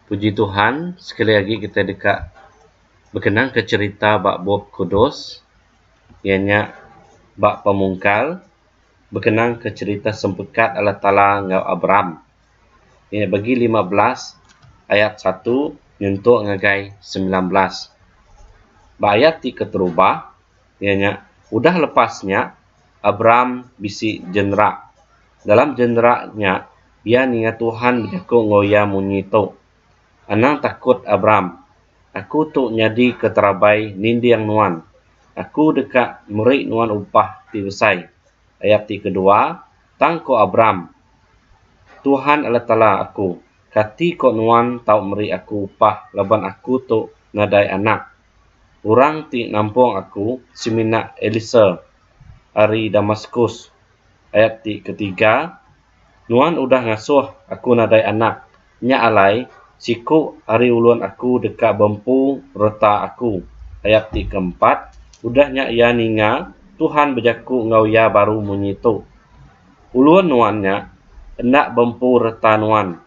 Puji Tuhan sekali agi kitai deka bekenangka cherita ba Bup Kudus iya nya ba Pemungkal bekenangka cherita sempekat Allah Taala enggau Abram. Iya nya Pegi lima belas ayat satu nyentuk ngagai semilan belas. Ba ayat ti keterubah. iya nya udah lepas nya Abram bisi jenerak. Dalam jenerak nya iya ninga Tuhan bejaku enggau iya munyi tu, Anang takut Abram, aku tu nyadi keterabai ninding nuan. Aku deka meri nuan upah ti besai. Ayat ti kedua, Tang ko Abram, Tuhan Allah Taala aku, kati ko nuan tau meri aku upah laban aku tu nadai anak? Orang ti nampung aku semina Elisa ari Damaskus. Ayat ti ketiga, Nuan udah ngasuh aku nadai anak, nya alai, siku ari ulun aku deka bempu reta aku. Ayat ti keempat, Udah nya iya ninga Tuhan bejaku enggau iya baru munyi tu, Ulun nuan nya enda bempu reta nuan,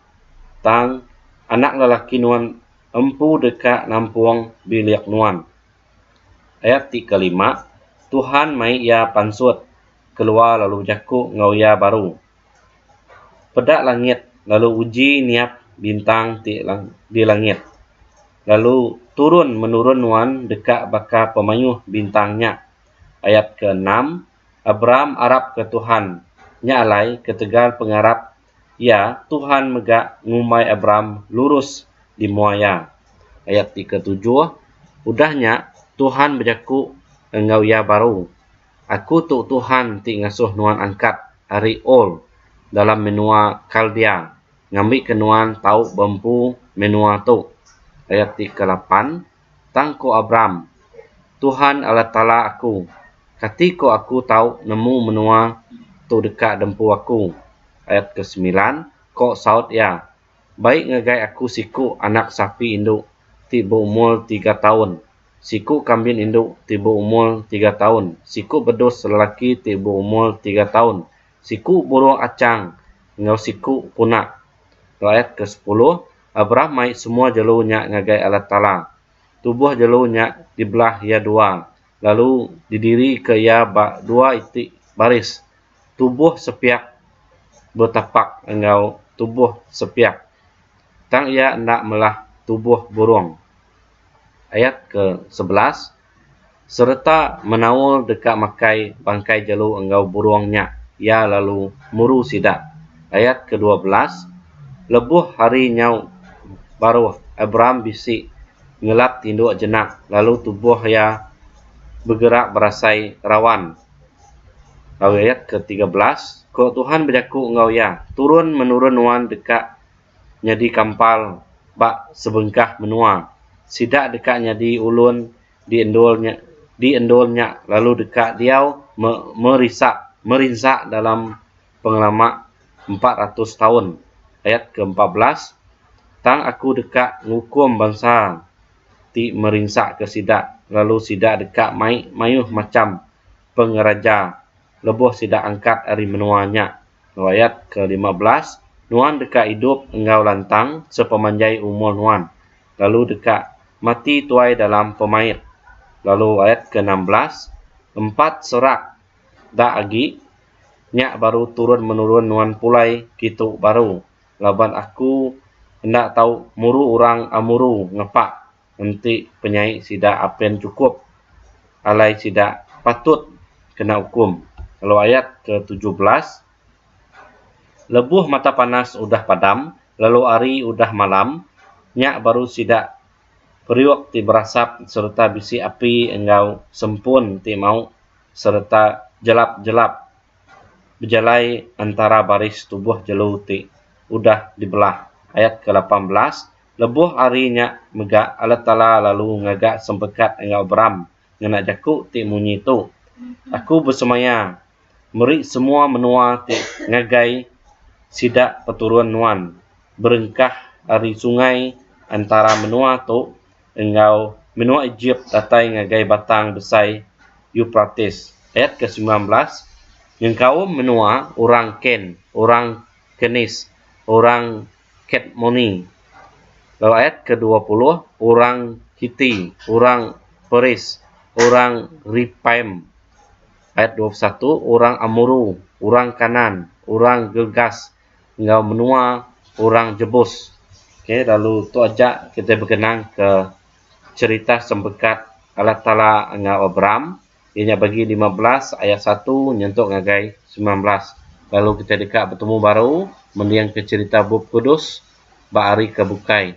tang anak lelaki nuan, Empu deka nampung bilik nuan. Ayat ti kelima, Tuhan mai iya pansut keluar lalu bejaku enggau iya baru, Peda langit lalu uji niap bintang ti di langit, lalu turun menurun nuan deka baka pemayuh bintang nya. Ayat keenam, Abram arapka Tuhan, nya alai ketegal pengarap Iya, Tuhan mega ngumbai Abram lurus di mua Iya. Ayat ti ketujuh, Udah nya, Tuhan bejaku enggau iya baru, Aku tu Tuhan ti ngasuh nuan angkat ari Ur dalam menua Kaldea ngambika nuan tau beempu menua tu. Ayat ti kelapan. Tang ku Abram, Tuhan Allah Taala aku, kati ko aku tau nemu menua tu deka dempu aku? Ayat ke semilan, ko saut iya, Bai ngagai aku siku anak sapi indu ti beumur tiga taun, siku kambin indu ti beumur tiga taun, siku bedus lelaki ti beumur tiga taun, siku burung achang enggau siku puna. Lalu ayat ke sepuluh, Abraham mai semua jelu nya ngagai Allah Taala. Tubuh jelu nya dibelah iya dua, lalu didirika iya ba dua iti baris, tubuh sepiak betapak enggau tubuh sepiak, tang iya enda melah tubuh burung. Ayat ke sebelas. sereta menaul deka makai bangkai jelu enggau burung nya iya lalu muru sida. Ayat kedua belas, Lebuh hari nyau baruh Abram bisi ngelap tinduk jenak lalu tubuh iya begerak berasai rawan. Lalu ayat ke tiga belas, Ko Tuhan bejaku enggau iya, Turun menurun nuan deka nyadi kampal ba sebengkah menua. Sida deka nyadi ulun di endur nya di endur nya lalu deka diau me merisa merinsa dalam pengelama empat ratus taun, ayat keempat belas, Tang Aku deka ngukum bansa ti merinsaka sida, lalu sida deka mai mayuh macham pengeraja. lebuh sida angkat ari menua nya. Riwayat kelima belas, Nuan deka idup enggau lantang sepemanjai umur nuan, lalu deka mati tuai dalam pemait. Lalu ayat keenam belas, Empat serak da agi, nya baru turun menurun nuan pulai kitu baru, laban Aku enda tau muru orang Amuru ngepak enti penyai sida apen chukup alai sida patut kena ukum lalu ayat ke tujuh belas lebuh mata panas udah padam lalu hari udah malam nya baru sida periuk ti berasap sereta bisi api enggau sempun ti mau sereta jelap-jelap bejalai entara baris tubuh jelu ti udah dibelah ayat ke lapan belas. Lebuh ari nya mega Allah Taala lalu ngaga sempekat enggau Abram ngena jaku ti munyi tu, Aku besemaya meri semua menua ti ngagai sida peturun nuan berengkah ari sungai entara menua tu enggau menua Ejip datai ngagai batang besai Euprates. Ayat ke semilan belas Nyengkaum menua orang Ken, orang Kenis, orang. Cat Moni, lalu ayat ke dua puluh, orang Kiti, orang Peris, orang Repaim, ayat dua puluh satu, orang Amuru, orang Kanaan, orang Girgas, enggau menua orang Jebus. Okay, lalu tu aja kitai begenangka cherita sempekat Allah Taala enggau Abram. Iya nya Bagi lima belas ayat satu nyentuk ngagai semilan belas lalu kitai deka betemu baru mendingka cherita Bup Kudus ba hari ke bukai.